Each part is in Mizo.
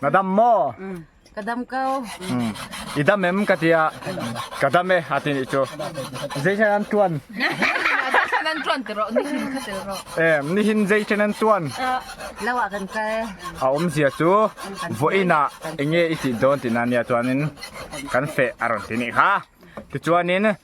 Ka dam maw? Mm. Ka dam ko. Mm. I dam em ka tia. Ka dam e a tin i chu. Zai chen an tuan. Nan tuan te ro, ni hin ka te ro. Em, ni hin zai chen an tuan. Lawa kan ka e. A om zia chu voina enge i ti don tina nia chuanin kan fe a rawn ti ni kha. Ti chuanin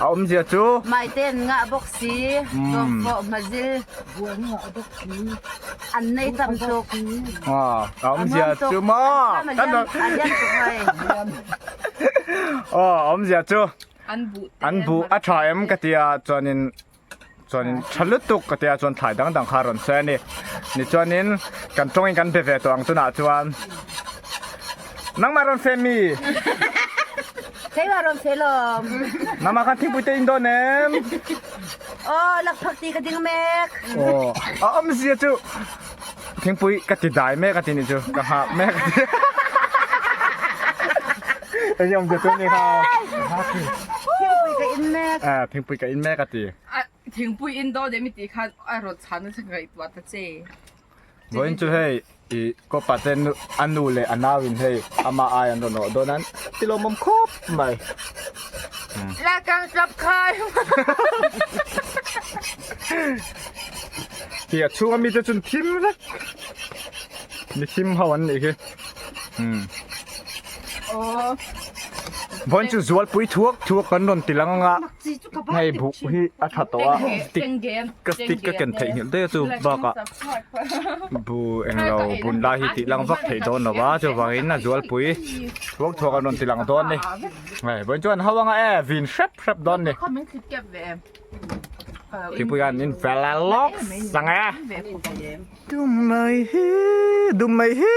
A awmzia chu. Maite'n ngah bawk si, zawk pawh hma zil. Buai ni ngah bawk si, an nei tam tuk. A awmzia chu. Maw! Kan lo. A hiam tuk hoi. Aw a awmzia chu. An buh a tha em ka tia chuanin. chuanin tha lutuk ka tia chuan thlai dang dang kha a rawn sawi a ni ni chuanin kan tawngin kan be ve tawh ang tunah chuan nangmah a rawn feh mi Thlenglo a rawn feh lawm nangmah khan thingpui te in dawn em aw lakphak ti ka ding mek aw a awmzia chu. Thingpui ka ti dai mek a ti ni chu ka nghak mek a ti. Enge awm zet tum kha. Thingpui ka in mek. A thingpui ka in mek a ti. A thingpui in dawn em i tih khan a rawn chhan nasa ngaihtuah ta che. Vawiin chu hei i copa te a nu leh a nau in hei ama ai an rawn awh dawn a an tilawm bawm khawp. Mai. La kang tlap khai. Hi a chunga mi te chun thim vek. Mi thim ho an nih hi. Hmm. Oh. Von chu zual pui thuak thuak kan rawn ti lang anga. hnaibuk hi a tha tawh a stick ka stick ka ken theih nghilh daih a chu bakah bu englo bun lai hi tih lang vak theih dawn lo va chuvangin a zualpui thuak thuak a rawn tilang dawn ni hei vawiin chuan ho anga e vin hrep hrep dawn ni thingpui hian in fel a lawk sang e dum mai hi dum mai hi.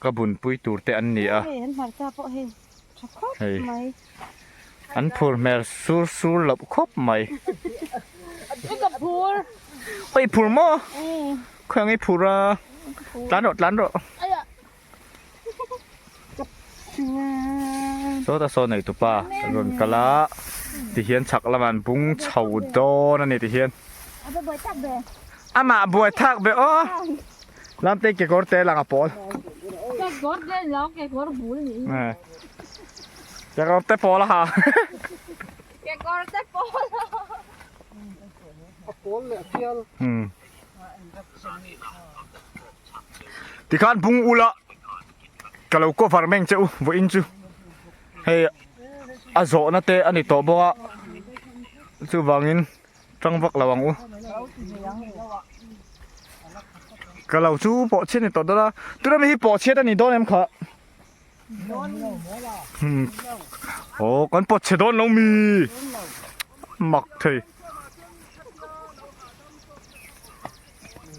Ka bunpui tur te an ni a. Hei an hmarcha pawh hei tha khawp mai. An phur hmel sur sur loh khawp mai. I ka phur. Oi i phur maw? Khawi ang i phur a. Tlan rawh tlan rawh. Aiya. Saw ta saw nei tupa ka rawn kal a. Ti hian chhak lamah an bung chho dawn a ni ti hian. A buai thak be. Amah buai thak be aw. Lam teng kekawr te langa pawl. Kekawr te lo kekawr bul ni. Kekawr te pawl a ha. Kekawr te pawl. A pawl le a tial. Hmm. Tikhan bung ula ka lo cover meng che u vawiin chu. Hei a zawhna te a ni tawh bawk a. Chuvangin. Tang vak lo ang u. Ka lo chu pawh chhiat ni tawh dawn a. Tuna mi hi pawh chhiat a ni dawn em kha. Aw kan pawt chhe dawn lo mi. Mak thei.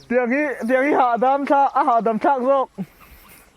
Tiang hi, tiang hi hahdam thlak, a hahdam thlak zawk.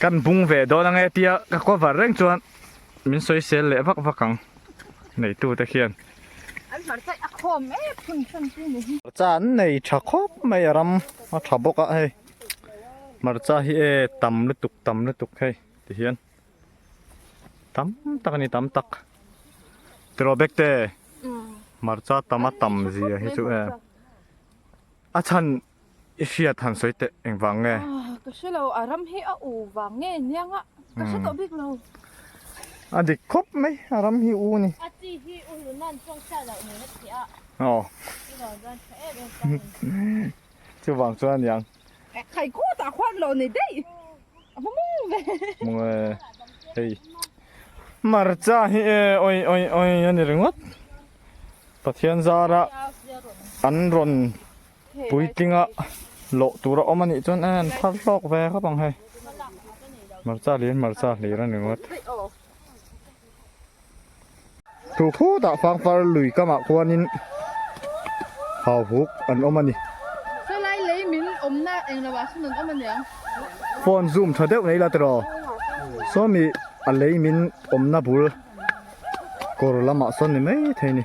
Kan bung ve dawn ange tia ka cover reng chuan min sawisel leh vak vak ang neitu te hian. An hmarcha a khawm e phun hran chu ni hi. Hmarcha an nei tha khawp mai a ram a tha bawk a hei hmarcha hi e tam lutuk tam lutuk hei tihian tam tak a ni tam tak tiraw bekte hmarcha tama tam zia hi chu e a chhan I hriat han sawi teh engvang nge? Aw, ka hre lo. A ram hi a u vang nge niang a? Ka hre tawh bik lo. A dik khawp mai. A ram hi u ni. A chi hi u hlun nan chuang chiah loh nen a ti a. Aw. Chu vang chuan tha em em chang in. Chu vang chuan a niang. Khai kawtah huat loh nei daih. A va mawng ve. Mawng e. Hei hmarcha hi e awih awih awih a ni ringawt. Pathian zara an rawn. Puitinga loh tur a awm a nih chuan a en phar hlawk ve khawp ang hei. Hmarcha lian hmarcha hlir a ni ngawt. Thu khutah fangpar lui kamah khuanin hauhuk an awm a ni. Salai lei min awmna engloah sawn an awm a niang. Phone zoom tha deuh nei la tiraw? Sawmi a lei min awmna bul kawr lamah sawn ni maithei a ni.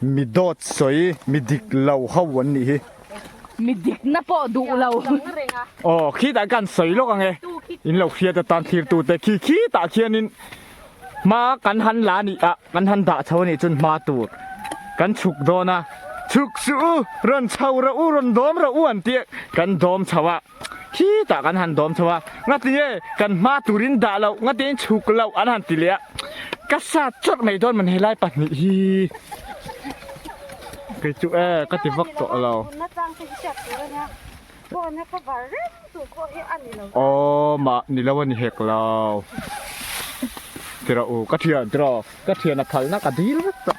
Mi dawt sawi, mi dik lo ho an nih hi. Mi dikna pawh duh lo. Aw, khitah ka han sawi lawk ang e. In lo hriat atan thirtute khi khitah khianin hma kan han la nih ah kan han dah chho anih chuan hma tur kan chhuk dawn a. Chhuk suh u, rawn chho rawh u, rawn dawm rawh u an tih kan dawm chho a. Khi tah kan han dawm chho a, ngati e, kan hma turin dah loh, ngatein chhuk loh an han ti leh a. Ka sa chawt mai dawn ma'n helai pahnih hi. Kei chu e, ka ti vak tawh lo. Tunna chang te hi hriat tur a nia. Phone a cover reng tur pawh hi a ni lo. Aww mah ni lo a ni hek lo. Ti rawh u, ka thian, ti rawh. Ka thian a phalh nak a dil vek tawh.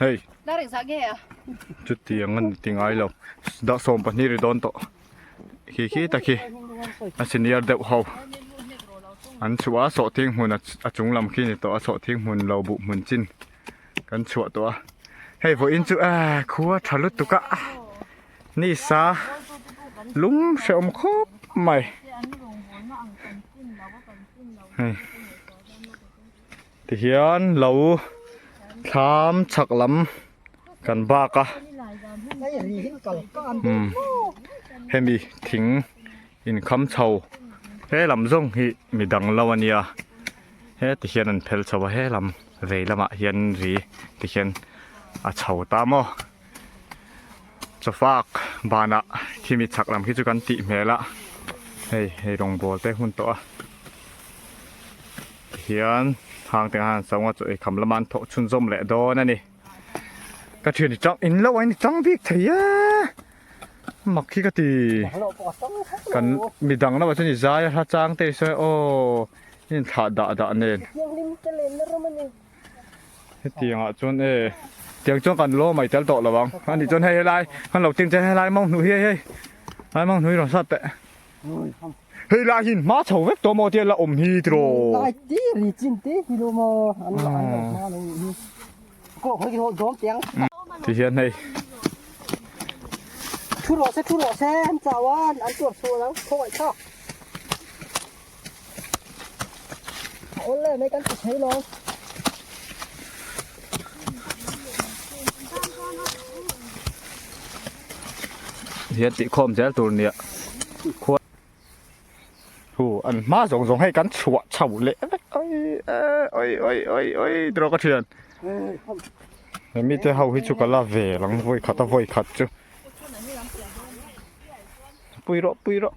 Hei. Dah reng zah nge a. Chuti ang ani ti ngai lo. Dah sawm pahnih ri dawn tawh. Khi khi tak hi. A senior deuh ho. An chhuah a sawh thing hmun a chung lam khi ni tawh a sawh thing hmun lo buh hmun chin kan chhuah tawh a. Hei vawih in chu aa khua tha lutuk a. Ni sa lum hrehawm khawp mai. Hei. Tihian lo thlam chak lam kan bak a umm hemi thing inkham chho he lam zawng hi mi dang lo a nia he tihian an phelh chho a he lam vei lamah hian ri tihian a chho ta maw. Chawfak banah khimi chhak lam khi chu kan tih hmel a, hei hei rawngbawl te hun tawh a tihian hang te han sawng a chaw ei kham lama an thawh chhun zawm leh dawn a ni. Ka thian ni chang in lo a ni chang bik thei a, mak khi ka ti kan mi dang lamah chuan i zai a hla chang te i sawi a aw, i inthlah dah dah nen. hetiang ah chuan e tiang chuan kan lo mai tel tawh lo ang ani chuan hei helai kan lo tin che helai mau hnu hi hei hei lai mau hnu hi rawn sat te hei lai hin ma chho vek to mo tia la om hi tro lai ti ri chin te hi lo mo an lo an lo ma lo hi ko hoi ho dom tiang ti hian hei thu ro se thu ro se an chawan an tur thu lo khawai tha hian tih khawm zel tur nia khuan hu an hma zawng zawng hei kan chhuah chho leh vek ai awih awih awih awih tawrh a ka thian he mite ho hi chu ka la ve ang vawi khat a vawi khat chu pui rawh pui rawh.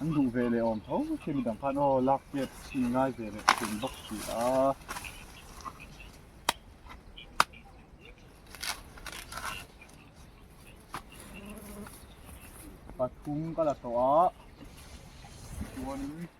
An duh ve leh awm tho che mi dang khan aw lak chiat si ngai ve leh ka tum bawk si a. Pathum ka la tawh a chuan in.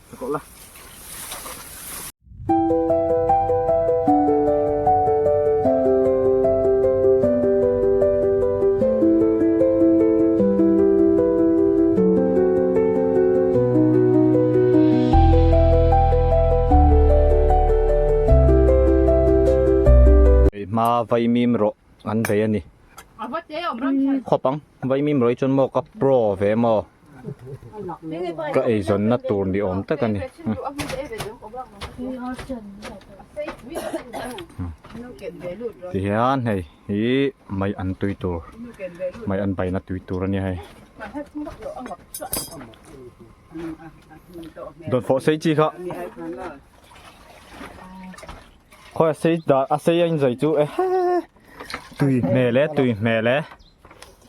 Hmaa vaimim rawh an vei a ni. Khawp ang, vaimim rawh hi chuan maw ka pro ve maw? Ka eizawnna tur ni awm tak a ni. Tihian hei hi mai an tui tur, mai an baina tui tur a nia hei. Dawnfawh sei chi kha, khawi a sei dah, a sei a inzawih chu ehe, tui hmel e, tui hmel e.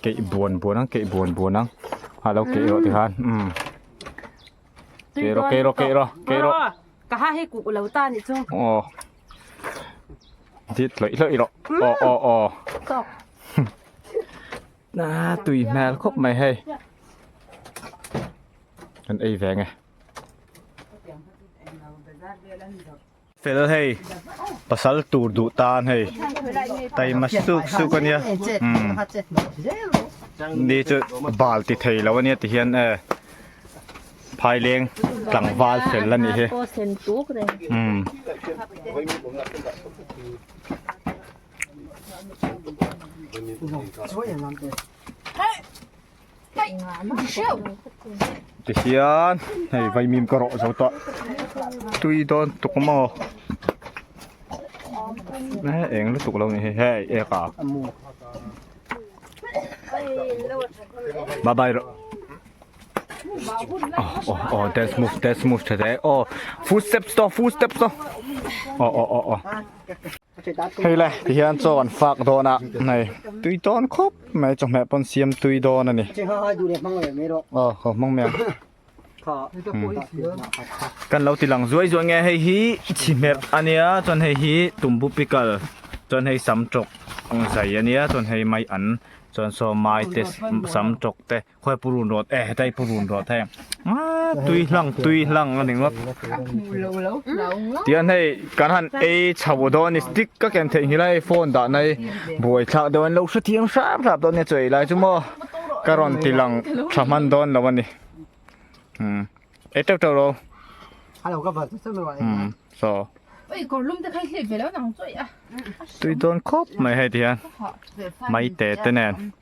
keih buan buan ang keih buan buan ang a lo keih erawh tikhan umm keih rawh keih rawh keih rawh keih rawh ka ha hi kuh lo ta ni chu aw dit hlawih hlawih rawh aw aw aw na tui hmel khawp mai hei kan ei ve nge Fel hei pasal tur duh tan hei taima suk suk a nia ni chu bal ti thei lo a nia ti hian e phaileng tlangval fel la ni hi um ti hian hei vaimim ka rawh zo tawh tui dawn tuk maw he eng lutuk lo ni hi hei ek a bye bye rawh oh oh oh that's move that's move today oh footsteps to footsteps to oh oh oh oh Hei le, ti hian chaw an fak dawn a, hei, tui tawn khawp mai, chawhmeh pawn siam tui dawn a ni. Aw, haw hmang mai ang. Kan lo ti lang zuai zuai nge, hei hi chihmerh a nia, chuan hei hi tumbu pickle, chuan hei sam tawk zai a nia, chuan hei mai an, chuan saw mai te, sam tawk te. Khawi purun rawt e, hetai purun rawt hei. Aa, tui hlang, tui hlang a ni ngawt. Tiang hei, kan han ei chho dawn i stick ka ken theih nghila hei phone dah nai buai thlak dawn i lo hre thiam hrap hrap dawn nia chaw elai chu maw ka rawn ti lang tha hman dawn lo a ni. Umm, ei teuh teuh lo. A lo ka vat zet zet lo em. Chaw. Ui, kawrlum te kha i hliat ve lo ang chuai a. Tui dawn khawp mai hei ti hian. Maitete nen.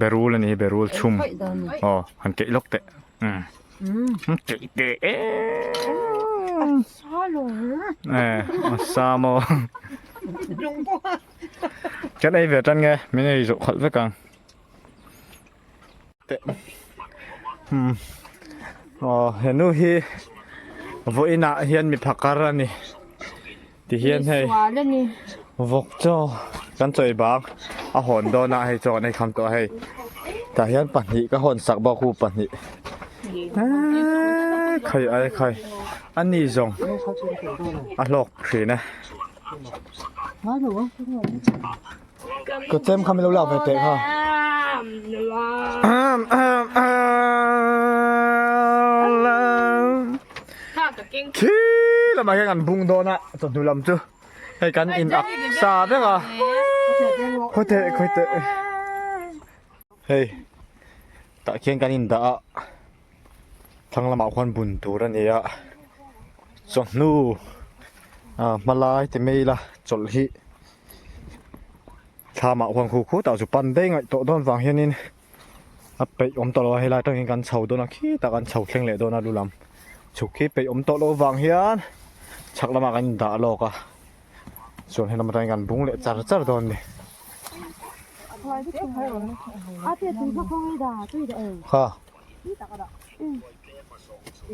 berul a ni berul chhum aw han keih lawk teh han keih teh a sa maw kan ei ve tan nge min ei zawh khalh vek ang. He nu hi vawi inah hian mi phakar a ni ti hian hei vawk chaw kan chawi bang a hawn dawn a hei chu kan aikham tawh a hei tah hian pahnih ka hawn sak bawk hû pahnih khai ai khai a ni zawng a hlawk thin e. Kachem kha min lo lak ve teh kha. Thi lamah hian an bung dawn a chawhnu lam chu hei kan in ak sa vek a. Khawi teh khawi teh. Hei tah khian kan in dah a. thlang lamah khuan bun tur a ni a chawhnu ah hma lai ti mai ila chawlh hi thla mah khuan khu khu tah chu pan daih ngaih tawh dawn vang hian in a peih awm tawh lo a helai atang hian kan chho dawn a khi tak an chho thleng leh dawn a lu lam chhuk khi peih awm tawh lo vang hian chhak lamah kan in dah lawk a chuan he lam atang hian kan bung leh char char dawn a ni ha.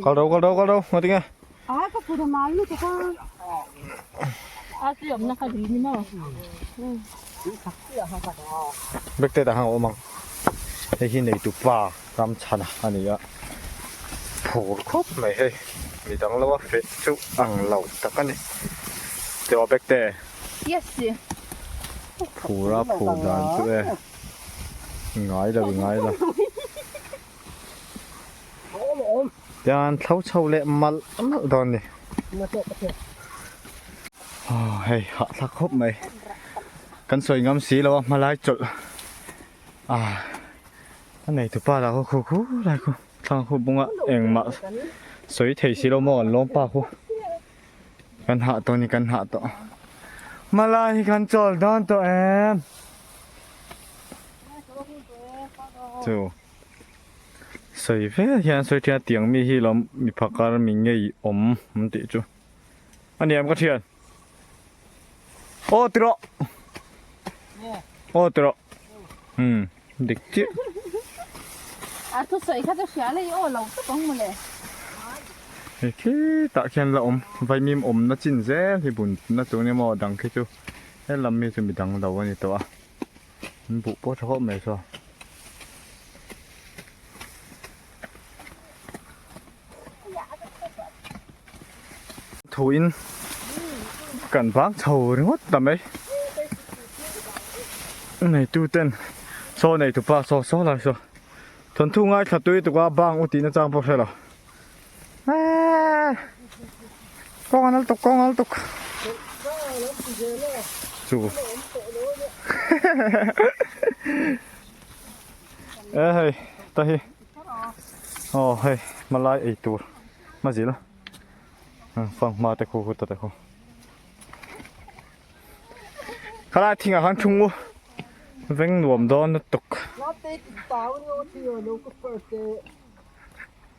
Kal rau, kal rau, kal rau, ngai tinge. Aa, ka pura mal nu tuka. Aa, si om naka di ni mo. Bek te ta hang omang. Hei hi nei tu pa, ram chana, ani a. Phur khop mai hei. Ni dang lo a, fe chu ang lo tak ani. Teo bek te. Yes, si. Phura phur dan chu e. ngai lo ngai lo yan thlo chho le mal mal don ni hei ha thla khop mai kan soi ngam si lo a hmalai chol a a nei tu pa la ho khu khu lai khu thang khu bunga engmah soi thei si lo mo an lawm pa khu Kan hah tawh ni kan hah tawh. Mala hi kan chawl dawn tawh em. Chu. Sawi ve hian sawi thian tiang mi hi lo mi phakar mi ngei awm tih chu. Ani em ka thian. Aw ti rawh. Aw ti rawh. Hmm, dik chiah. A thu sawi kha ka hria lei aw lo tawp ang mawle. Hei khitah khian la awm. Vaimim awmna chin zel hi bun na tun emaw a dang khi chu. He lam hi chu mi dang lo a ni tawh a. An buh pawh tha khawp mai saw. Thu in kan vang chho ringawt ta mai. Nei tu ten saw nei tu pa saw saw lai saw. Thon thu ngai thla tui tuka bang u tihna chang pawh hrelo. Kawng a nal tuk, kawng a nal tuk. Chu. e hei, ta hi. Oh hei, malai ei tur. Ma zil. Fang ma te khu khu ta te khu. Kala thing a han thung u. Veng nuam don tuk. Late tik tau ni o thi lo ku phar te.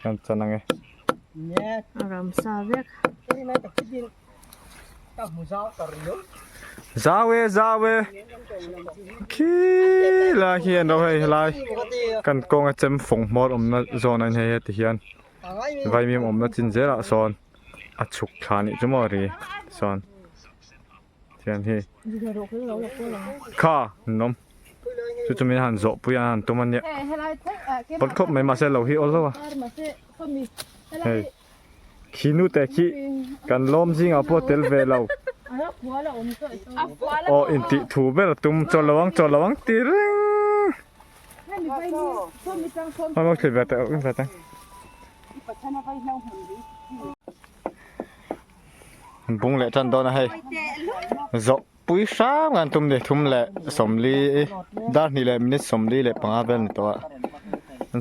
Chuan chan ang e. A ram sa vek. Zau e zau e. Khi lai hian ro hei helai. Kan kawng a chem fawng hmawr awm na zona ni hei heti hian. Vaimim awm na chin zel ah sawn a chhuk thla nih chu maw ri sawn. thian hi kha nawm chu chu min han zawh pui a han tum a nia pawl khawp mai mahse lo hi awl lo a hei khi nu te khi kan lawm zing ah pawh tel ve lo aw in tih thu ber a tum chawl lo ang chawl lo ang ti reng hoi maw thliah ve ta eng ve ta. Bung leh tan dawn a hei. Zawh pui hrang an tum ni. Thum leh sawmli i dar hnih leh minute sawmli leh panga vel ni tawh a.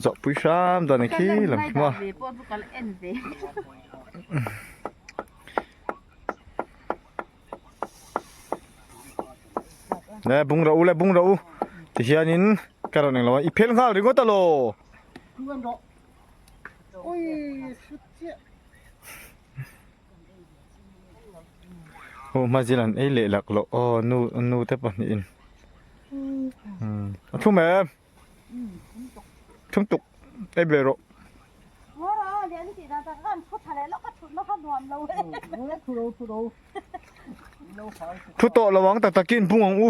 Zawh pui hrang dawn a ni khi lo ang thung a. Nâ bung rawh u le bung rawh u ti hianin ka rawn eng lo a. I phel nghal ringawt a law. Thu an rawh. Ui sut chiah. Aw hmazil an ei leh lak loh aw nu nute pahnih in a thum em thum tuk ei ber rawh thu tawh lo ang tak takin hmung ang u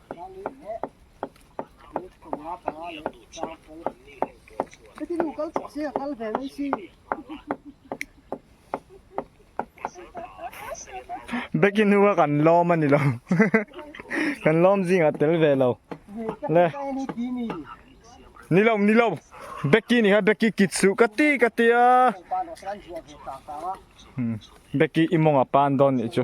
Becky nu a kan lawm a ni lo kan lawm zing a tel ve lo le ni lo ni lo Becky ni ha Becky kit su ka ti ka ti a Becky imong a pan don ni chu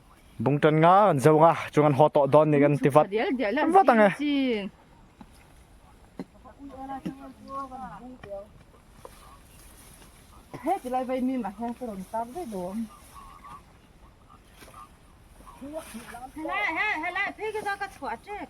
Bung tan nga kan zung a chung an haw tawh dawn ni kan ti vat vat ang e. He tilai vai mi ma hian ka rawn tak ve lo. Helai he helai phei ka za ka chhuah ṭek.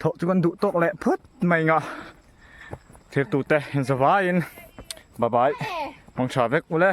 Tho chu kan duh tawk leh phut mai nga. Thir tu te in za vai in bye bye hmang tha vek u le.